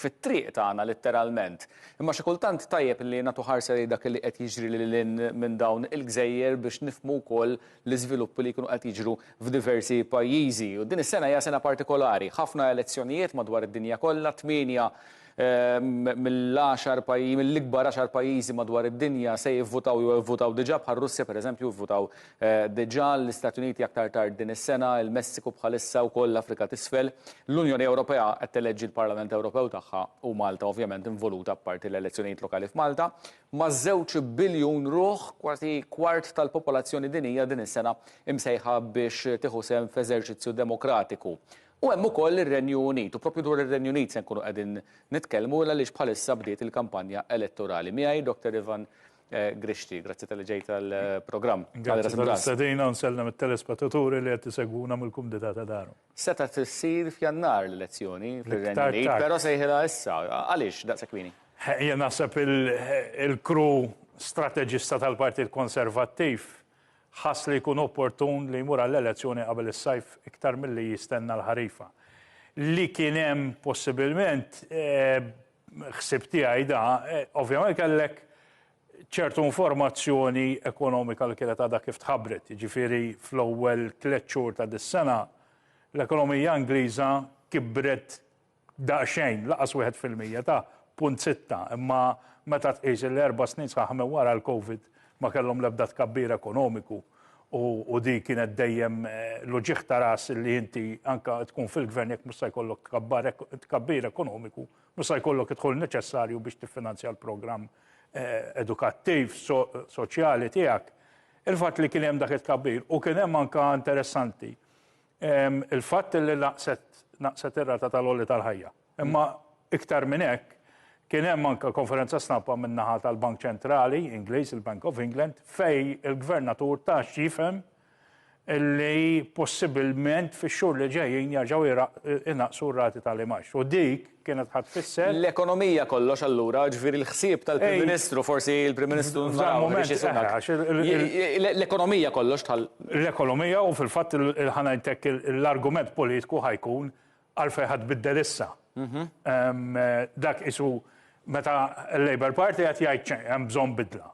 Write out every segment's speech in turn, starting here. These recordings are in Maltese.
fit-triq tagħna litteralment. Imma xi kultant tajjeb li nagħtu ħarsa lejn dak li qed jiġri lil hinn minn dawn il-gżejjer biex nifhmu wkoll l-iżviluppi li jkunu qed jiġru f'diversi pajjiżi. U din is-sena hija sena partikolari. Ħafna elezzjonijiet madwar id-dinja kollha, tmienja mill-għaxar pajjiżi, mill-ikbar għaxar pajjiżi madwar id-dinja se jivvutaw jew ivvutaw diġà bħar-Russja pereżempju vvutaw Diġà l-Istati Uniti aktar tard din is-sena, il-Messiku bħalissa wkoll l-Afrika t'Isfel. L-Unjoni Ewropea qed teleġġi l-Parlament Ewropew tagħha u Malta ovvjament involuta apparti l-elezzjonijiet lokali f'Malta. Ma' żewġ biljun ruħ, kważi kwart tal-popolazzjoni dinjija din is-sena imsejħa biex tieħu sehem f'eżerċizzju demokratiku. U hemm ukoll ir-Renju Unit. U proprju dwar ir-Renju Unit se nkunu qegħdin nitkellmu għaliex bħalissa bdiet il-kampanja elettorali. Miegħi Dottor Ivan Grixti, grazzi tal-li ġejt għall-programm. Grazzi tal-istedina u nsellem it-telespettaturi li qed isegwuna mill-kumdità ta' darhom. Seta' tissir f'Jannar l-elezzjoni fir-Renju Unit, però sejħilha issa. Għaliex daqshekk kmieni? Jien naħseb il-kru strateġista tal-Partit Konservattiv ħass li jkun opportun li jmur għall-elezzjoni qabel is-sajf iktar milli jistenna l-ħarifa. Li kien hemm possibilment ħsieb tiegħi da, eh, ovvjament kellek ċertu informazzjoni ekonomika li kienet għadha kif tħabbret, ġifiri fl-ewwel tliet xhur ta' dis-sena l-ekonomija Ingliża kibret daqsxejn laqas wieħed fil-mija ta' punt sitta, imma meta tqis l-erba' snin sħaħ minn wara l-COVID Ma kellhom l-ebda tkabbir ekonomiku u dik kienet dejjem l-uġigħ ta' ras li inti anke tkun fil-gvern jekk mhux se jkollok tkabbir ekonomiku, mhux se jkollok id-dħul neċessarju biex tiffinanzja l-programm edukattiv, soċjali tiegħek. Il-fatt li kien hemm dak it-tkabbir u kien hemm anke interessanti il-fatt li naqset ir-rata tal-għoli tal-ħajja. Imma iktar minn hekk, kien hemm anke konferenza stampa min-naħa tal-Bank Ċentrali Ingliż, il-Bank of England, fejn il-Gvernatur ta x'jifhem li possibilment fix-xhur li ġejjin jerġgħu jnaqqsu r-rati tal-imgħax. U dik kienet ħa tfisser. L-ekonomija kollox allura, jiġifieri l-ħsieb tal-Prim Ministru, forsi l-Prim Ministru naraw biex isuna. L-ekonomija kollox tħall. L-ekonomija u fil-fatt ħa ngħidlek l-argument politiku ħa jkun Għalfejn ħa tbiddel issa? Dak qisu meta l-Labour Party qed jgħid hemm bżonn bidla.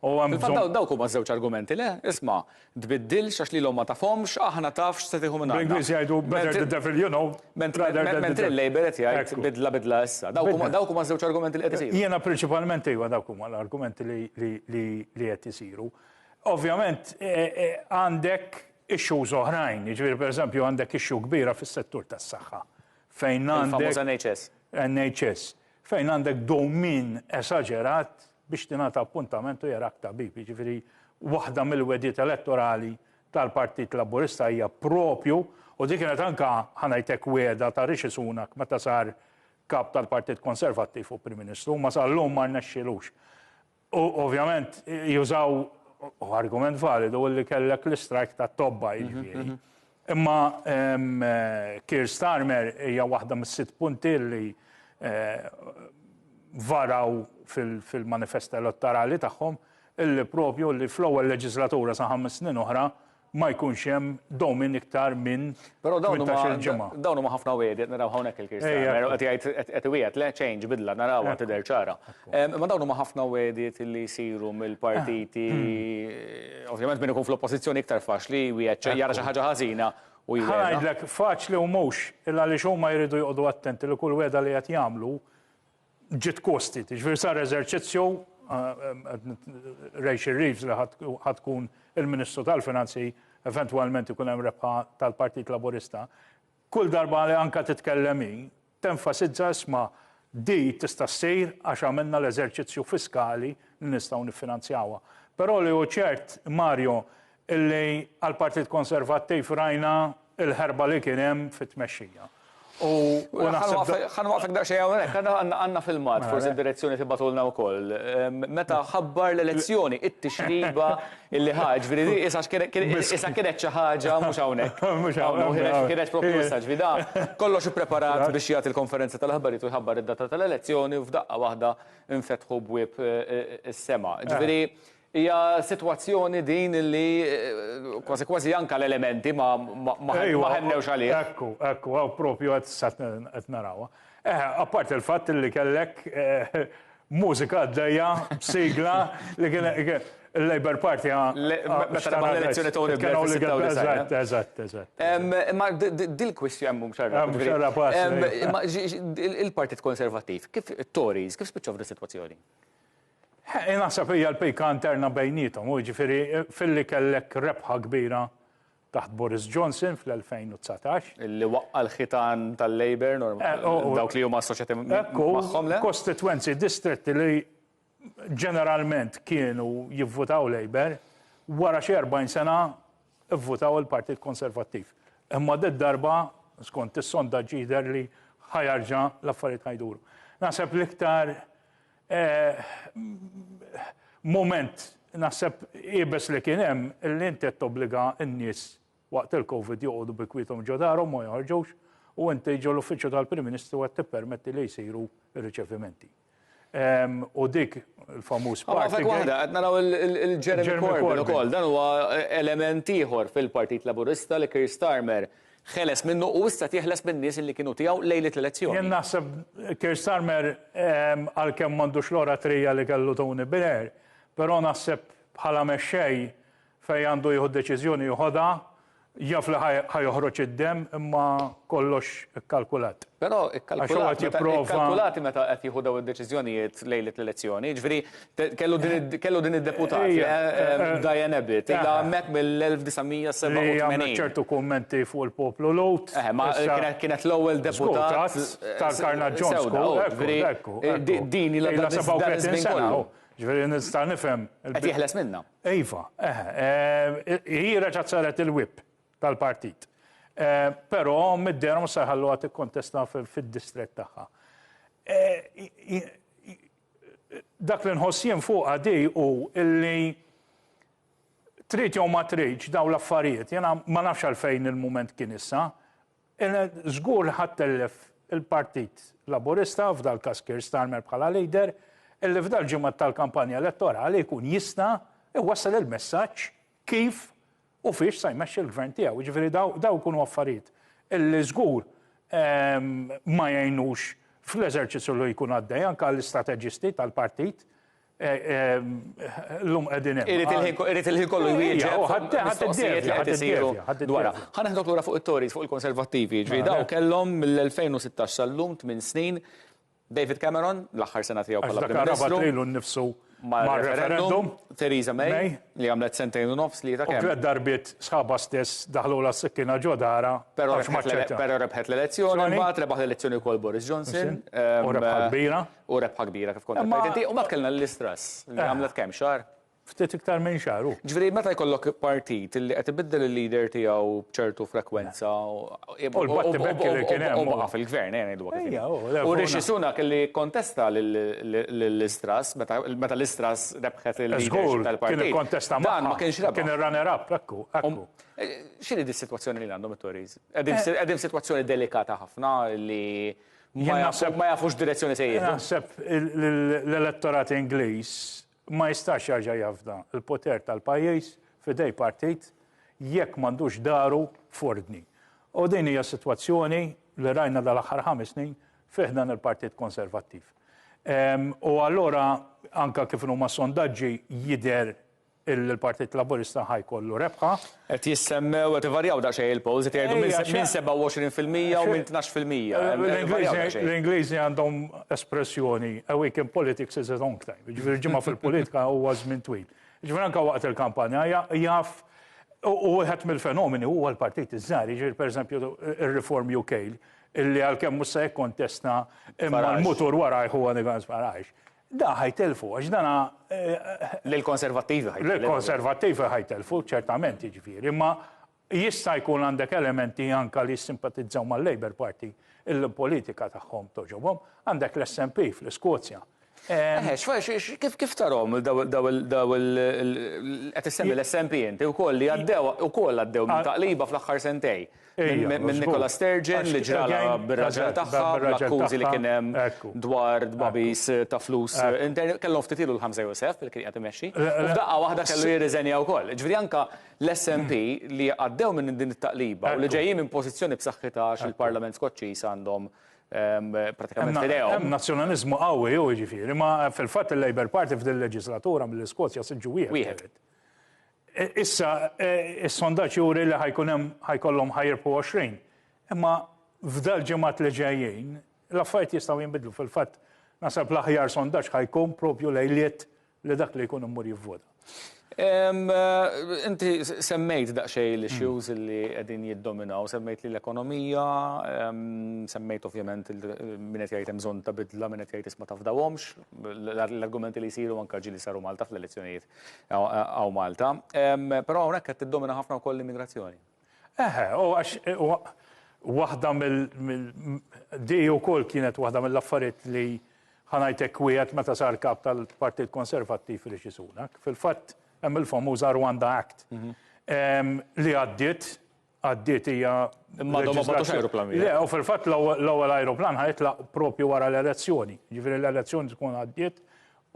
Fil-fatt dawk huma żewġ argumenti, le? Isma', tbiddilx għax lilhom ma tafhomx, aħna taf x'se tieħu minn għandna. Bl-Ingliż jgħidu better the devil you know. Mentri l-Labour qed jgħid bidla bidla issa. Dawk huma żewġ argumenti li qed isiru. Jiena prinċipalment iva dawk huma l-argumenti li qed isiru. Ovvjament għandek issues oħrajn, jiġifieri pereżempju għandek issue kbira fis-settur tas-saħħa fejn għandek. Il-famuż NHS. NHS. Fejn għandek dewmien esaġerat biex tingħata appuntament u jarak tabib. Jiġifieri waħda mill-wegħdiet elettorali tal-Partit Laburista hija propju u dik kienet anke ħanajtek wegħda ta' Rishi Sunak meta sar kap tal-Partit Konservattiv u Prim Ministru, ma sal-lum ma rnexxilux. U ovvjament jużaw u argument validu li kellek l-istrajk ta' tobba jiġifieri. Mhm. Imma Kir Starmer hija waħda mis-sitt punti li eh, varaw fil-manifesta elettorali tagħhom illi propju li fl-ewwel leġislatura sa ħames snin oħra ma jkunx hemm dowmin iktar minn 18-il ġimgħa. Però dawn huma ħafna wegħdiet, naraw hawnhekk il-Kirstjan, qed jgħid qed iwiegħed, le change, bidla, narawha tidher ċara. Imma dawn huma ħafna wegħdiet li jsiru mill-partiti, ovvjament min ikun fl-Oppożizzjoni iktar faċli jwiegħed xi jara xi ħaġa ħażina u jwiegħed. Ħa ngħidlek, faċli u mhux, illa għaliex huma jridu joqogħdu attenti li kull wegħda li qed jagħmlu ġiet kostit, jiġifieri sar eżerċizzju Rachel Reeves li ħad tkun il-Ministru tal-Finanzi eventwalment ikun hemm rebħa tal-Partit Laburista. Kull darba li anke titkellem hi tenfasizza isma' di tista' ssir għax għamilna l-eżerċizzju fiskali li nistgħu niffinanzjawha. Però li hu ċert, Mario, illi għall-Partit Konservattiv rajna l-ħerba li kien hemm fit-tmexxija. U naħseb. Ħa nwaqfek daqsxejn hawnhekk, għandna filmat, forsi d-direzzjoni tibgħatulna wkoll. Meta ħabbar l-elezzjoni, it-tixriba illi ħa, ġifieri di isha kienet xi ħaġa mhux hawnhekk. Mhux hawnhekk. Kienet propju issa, ġifieri da kollox ippreparat biex jagħti l-konferenza tal-aħbarijiet u jħabbar id-data tal-elezzjoni u f'daqqa waħda nfetħu bwieb is-sema. Ġifieri Hija sitwazzjoni din li kważi kważi anke l-elementi ma ħennewx għaliha. Ekku, ekku, hawn proprju qed issa qed narawha. Eh, apparti l-fatt li kellek mużika għaddejja b'sigla li kienet il-Labour Party Meta rebaħ l-elezzjoni Tony Blair fis-96. Eżatt, eżatt, eżatt. Imma dil-kwistjoni hemm mhux għarraf. Mhux għarraf għasli. Imma il-Partit Konservattiv, kif it-Tories, kif spiċċaw f'dis-sitwazzjoni? Hi naħseb hija l-pika interna bejniethom, hu jiġifieri filli kellek rebħa kbira taħt Boris Johnson fl-2019. Li waqqa' l-ħitan tal-Labour normalment, dawk li huma assoċjati magħhom le? Ekku, kostitwenzi, distretti li ġeneralment kienu jivvutaw Labour, wara xi 40 sena vvutaw il-Partit Konservattiv. Imma did-darba, skont is-sondaġġi jidher li ħa jarġa' l-affarijiet ħa jduru. Naħseb l-iktar Mument naħseb iebes li kien hemm li inti qed tobbliga n-nies waqt il-Covid joqogħdu bi kwiethom ġo darhom ma joħorġux u inti ġo l-Uffiċċju tal-Prim Ministru qed tippermetti li jsiru r-riċevimenti. U dik il-famuż party gate. Ħa f'hekk waħda, qed naraw lil Jeremy Corbyn ukoll, dan huwa element ieħor fil-Partit Laburista li Keir Starmer Ħeles minnu u issa qed jeħles min-nies illi kienu tiegħu lejliet l-elezzjoni. Jien naħseb Keir Starmer għalkemm m'għandux l-oratrija li kellu Tony Blair, però naħseb bħala mexxej fejn għandu jieħu deċiżjoni jħodha, jaf li ħa joħroġ id-demm imma kollox ikkalkulat. Però ikkalkulat meta qed jieħu dawn id-deċiżjonijiet lejliet l-elezzjoni. Jiġifieri Kellu din id-deputat, Diane Abbott, ilha hemmhekk mill-1987. Li għamlet ċertu kummenti fuq il-poplu Lhud. Kienet l-ewwel deputat tal-Karna Jones. Din ilha 37 sena. Ġifieri nista' nifhem. Qed jeħles minnha. Iva, hi reġgħet saret il-whip tal-partit. Però mid-dehra mhux se jħalluha tikkontesta fid-distrett tagħha. Dak li nħoss jien fuqha di hu li trid jew ma tridx dawn l-affarijiet, jiena ma nafx għalfejn il-mument kien issa, żgur li ħa ttellef il-Partit Laburista, f'dal-każ Keir Starmer bħala leader, illi f'dal-ġimgħat tal-kampanja elettorali jkun jista' jwassal il-messaġġ kif u fiex se jmexxi l-Gvern tiegħu. Jiġifieri dawk ikunu affarijiet li żgur ma jgħinux fl-eżerċizzju li jkun għaddej anke għall-istrateġisti tal-partit l-lum qegħdin hemm. Irid il-ħin kollu jwieġeb mistoqsijiet li qed isiru dwarha. Ħa neħdok lura fuq it-Tories, fuq il-Konservattivi. Ġifieri dawn kellhom mill-2016 sal-lum tmien snin David Cameron, l-aħħar sena tiegħu bħala Prim Ministru. Għax dak rabat lilu nnifsu mar-referendum. Theresa May, li għamlet sentejn u nofs li ta' kemm. U tliet darbiet sħabha stess daħlulha s-sikkina ġo darha. Però rebħet l-elezzjoni, imbagħad rebaħ l-elezzjoni wkoll Boris Johnson. U rebħa kbira. U rebħa kbira kif kont qed tgħid inti. U mbagħad kellna l-Liz Truss, li għamlet kemm xahar? Ftit iktar minn xahar hu. Ġifieri meta jkollok partit li qed ibiddel il-leader tiegħu b'ċertu frekwenza u U l-battibekk li kien hemm. u baqa' fil-gvern, ejja ngħidu hekk. Ejja, u le. U Rishi Sunak li kkontesta lil-Liz Truss meta meta Liz Truss rebħet il-leadership tal-partit. Żgur, kien ikkontesta magħha. Dan ma kienx rebaħ. Kien ir-runner up, hekk hu, hekk hu. X'inhi dis-sitwazzjoni li għandhom it-Tories? Qegħdin qegħdin f'sitwazzjoni delikata ħafna li ma jafux x'direzzjoni se jieħdu. Naħseb l-elettorat Ingliż ma jistax jerġa' jafda l-poter tal-pajjiż f'idej partit jekk m'għandux daru f'ordni. U din hija s-sitwazzjoni li rajna dal-aħħar ħames snin fi ħdan il-Partit Konservattiv. U allura anke kif inhuma s-sondaġġi jidher li l-Partit Laburista ħa jkollu rebħa. Qed jissemmew, qed ivarjaw daqsxejn il-polls, qed jgħidu minn 27 fil-mija u minn tnax fil-mija. L-Ingliżi għandhom espressjoni, a week in politics is a long time. Jiġifieri ġimgħa fil-politika huwa żmien twil. Jiġifieri anke waqt il-kampanja jaf u wieħed mill-fenomeni huwa l-partit iż-żgħar, jiġifieri pereżempju ir-Reform UK illi għalkemm mhux se jikkontesta imma l-mutur warajh huwa Nigel Farage. Dan ħa jtellfu għax dana. Lill-Konservattivi ħa jtellfu. Lill-Konservattivi ħa jtellfu, ċertament jiġifieri, imma jista' jkun għandek elementi anke li jissimpatizzaw mal-Labour Party illi l-politika tagħhom togħġobhom. Għandek l-SNP fl-Iskozja. Eħe, kif tarahom daw il, daw il, qed issemmi l-SNP inti wkoll li għaddew, ukoll għaddew minn taqliba fl-aħħar sentejn. Minn Nicola Sturgeon li ġralha bir-raġel tagħha bl-akkużi li kien hemm dwar tbagħbis ta' flus intern. Kellhom ftit ilu l-Ħamża Joseph li kien qiegħed imexxi u f'daqqa waħda kellu jirriżenja wkoll. Jiġifieri anke l-SNP li għaddew minn din it-taqliba u li ġejjin minn pożizzjoni b'saħħitha għax il-Parlament Skoċċiż għandhom prattikament f'idejhom. Hemm nazzjonaliżmu qawwi hu jiġifieri. Imma fil-fatt il-Labour Party f'din il-leġiżlatura mill-Iskozja siġġu wieħed. Issa, is-sondaġġ juri li ħa jkun hemm ħa jkollhom ħa jirbħu 20. Imma f'dal-ġimgħat li ġejjin, l-affarijiet jistgħu jinbidlu. Fil-fatt, naħseb l-aħjar sondaġġ ħa jkun propju lejliet li dak li jkun imur jivvota. Inti semmejt daqsxejn l-issues li qegħdin jiddominaw, semmejt li l-ekonomija, semmejt ovvjament min qed jgħid hemm bżonn ta' bidla, min qed jgħid isma' tafdawhomx, l-argumenti li jsiru anke ġieli saru Malta fl-elezzjonijiet Hawn Malta. Però hawnhekk qed tiddomina ħafna wkoll l-immigrazzjoni. Eħe, u għax waħda mill di wkoll kienet waħda mill-affarijiet li ħanajtek wieħed meta sar kap tal-Partit Konservattiv Rishi Sunak. Fil-fatt hemm il-famuża Rwanda Act li għaddiet għaddiet hija Imma għadhom ma battux ajruplan wieħed. Le, u fil-fatt l-ewwel ajruplan ħajtlaq propju wara l-elezzjoni. Ġifieri l-elezzjoni tkun għaddiet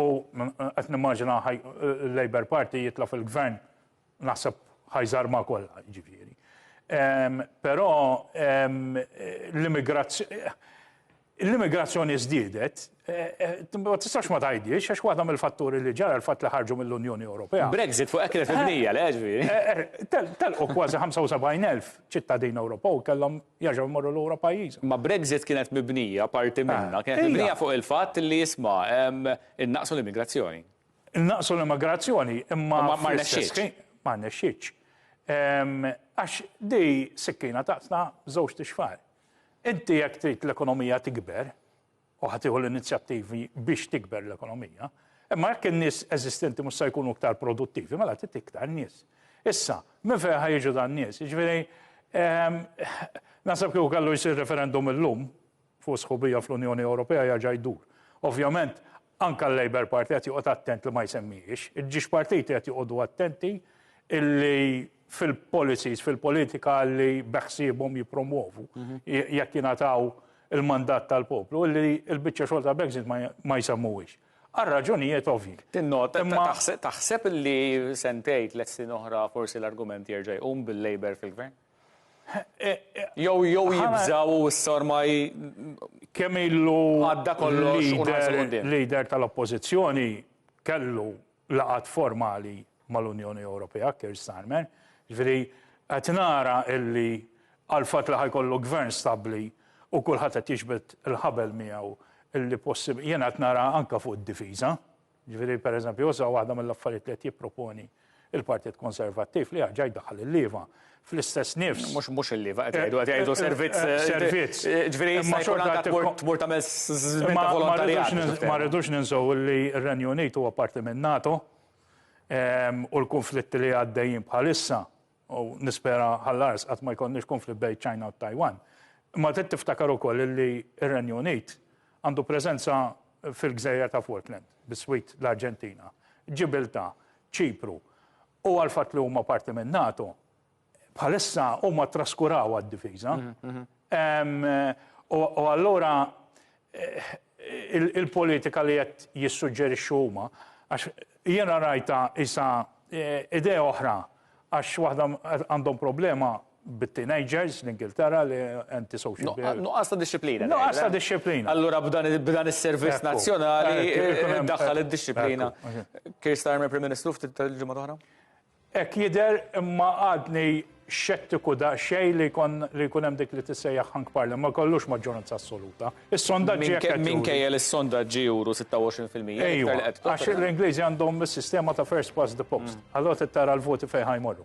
u qed nimmaġina l-Labour Party jitla' fil-gvern naħseb ħajżarma kollha, ġifieri. Però l-immigrazzjoni L-immigrazzjoni żdiedet, ma tistax ma tgħidhiex, għax waħda mill-fatturi li ġara l-fatt li ħarġu mill-Unjoni Ewropea. Brexit fuq hekk kienet mibnija, le, ġifieri. Telqu kważi 75,000 ċittadin Ewropew kellhom jerġgħu jmorru lura pajjiżhom. Ma Brexit kienet mibnija, parti minnha, kienet mibnija fuq il-fatt li, isma', innaqqsu l-immigrazzjoni. Innaqqsu l-immigrazzjoni, imma. Imma ma rnexxietx. Ma rnexxietx. Għax din sikkina taqtla żewġt ixfar. Inti jekk trid l-ekonomija tikber, u ħa tieħu l-inizjattivi biex tikber l-ekonomija, imma jekk in-nies eżistenti mhux se jkunu iktar produttivi, mela trid iktar nies. Issa, minn fejn ħa jiġu dan nies? Jiġifieri, ehm, naħseb kieku kellu jsir referendum illum fuq sħubija fl-Unjoni Ewropea jerġa' jdur. Ovvjament, Anke l-Labour Party qed joqgħod attent li ma jsemmihiex. Iġġiex partiti qed joqogħdu attenti illi fil-policies, fil-politika li beħsiebhom jippromwovu, mhm. jekk jingħataw il-mandat tal-poplu, illi l-biċċa xogħol ta' Brexit ma jsemmuhiex. Għal raġunijiet ovvi. Tinnota, taħseb illi sentejt l-essin oħra forsi l-argument jerġa' jqum bil-Labour fil-gvern? Jew jew jibżgħu u issa ormai kemm ilu għadda kollox u nħarsu quddiem. Leader tal-Oppożizzjoni kellu laqgħat formali mal-Unjoni Ewropea, Keir Starmer, jiġifieri qed nara illi għal fatt li ħa jkollu Gvern stabbli u kulħadd qed jiġbed il-ħabel miegħu illi possib, jiena qed nara anke fuq id-difiża, Jiġifieri, pereżempju, issa waħda mill-affarijiet li qed jipproponi l-Partit Konservattiv li jerġa' jdaħħal il-lieva fl-istess nifs. Mhux mhux il-lieva qed jgħidu qed jgħidu servizz. Servizz. Ġifieri imma xorta tmur tagħmel żmien ta' volontarjat. Ma rridux ninsew li r-Renju Unit huwa parti minn NATO u l-kunflitti li għaddejjin bħalissa U nispera ħall-ars qatt ma jkollniex konflitt bejn ċ-Ċina u t-Tajwan. Imma trid tiftakar ukoll li r-Renju Unit għandu preżenza fil-gżejjer ta' Falkland, bis-Swid, l-Arġentina, Ġibiltà, Ċipru. U għall-fatt li huma parti min-NATO, bħalissa huma ttraskuraw għad-difiża. U allura il-politika li qed jissuġġerixxu huma, għax jiena rajtha isa idea oħra għax waħda għandhom problema bit-teenagers l-Ingilterra li antisocial behavior. Nuqqas ta' dixxiplina. Nuqqas ta' dixxiplina. Allura b'dan is-servizz nazzjonali daħħal id-dixxiplina. Keir Starmer Prim Ministru ftit tal-ġimgħa l-oħra? Hekk jidher, imma għadni xettiku daqsxejn li jkun li jkun hemm dik li tissejjaħ hunk parliament, ma jkollux maġġoranza assoluta. Is-sondaġġi hekk qed juru. Minkejja li s-sondaġġi juru 26 fil-mija. Ejwa, għax l-Ingliżi għandhom is-sistema ta' first past the post. Allura trid tara l-voti fejn ħa jmorru.